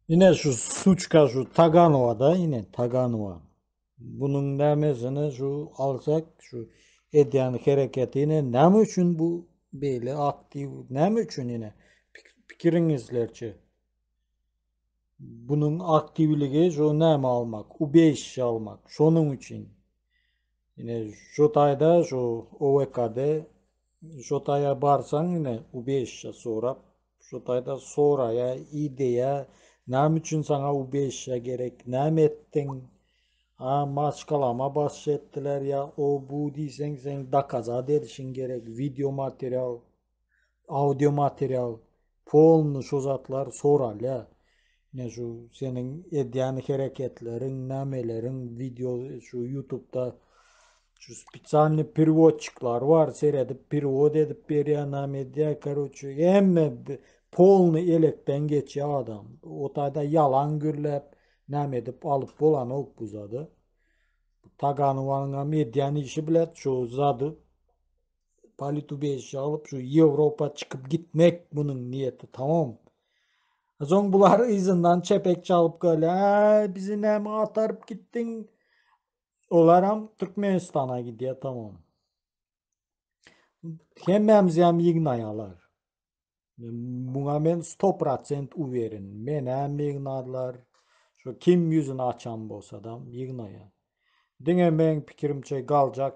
Ine şu suçka şu Taganowa da ine Taganowa. Bunun nämesine şu alsak şu edýän hereketi ine näme üçin bu beýle aktiw näme üçin ine pikiriňizlerçe. Bunuň aktiwligi şu näme almak, ubejişi almak. Şonuň üçin ine şu taýda şu OVKD şu taýa barsaň ine ubejişi sorap şu taýda soraýa ideýa näme üçin saňa ubejişi gerek näme etdiň a maşgalama başçy etdiler ýa o bu diýseň seň dokazat edişiň gerek wideo material audio material polny şu zatlar soralýa ine şu seniň edýän hereketleriň nämeleriň video şu ýutubda şu spesialny perewodçiklar bar seredip perewod edip berýär näme edýär karoçe hemme polny elekden geçýär adam o taýda ýalan gürläp näme edip alyp bolanok bu zady taganowanyňam edýän işi bilet şu zady Politubez alyp şu Ýewropa çykyp gitmek munuň niýeti tamam. Soň bular yzyndan çepek çalyp gelýär. Bizi näme ataryp gitdiň? Olar hem Türkmenistana gidýär tamam. Hemmämiz hem ýygnaýarlar. Muňa men 100% uwerin. Men hem ýygnarlar. Şu kim ýüzüni açan bolsa da ýygnaýar. Diňe meň pikirimçe galjak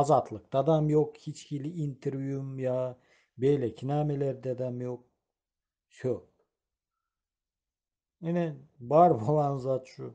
Azatlykdadam ýok hiç hili interwýum ýa beýleki nämelerdedem ýok. Söp. Ine bar bolan zat şu.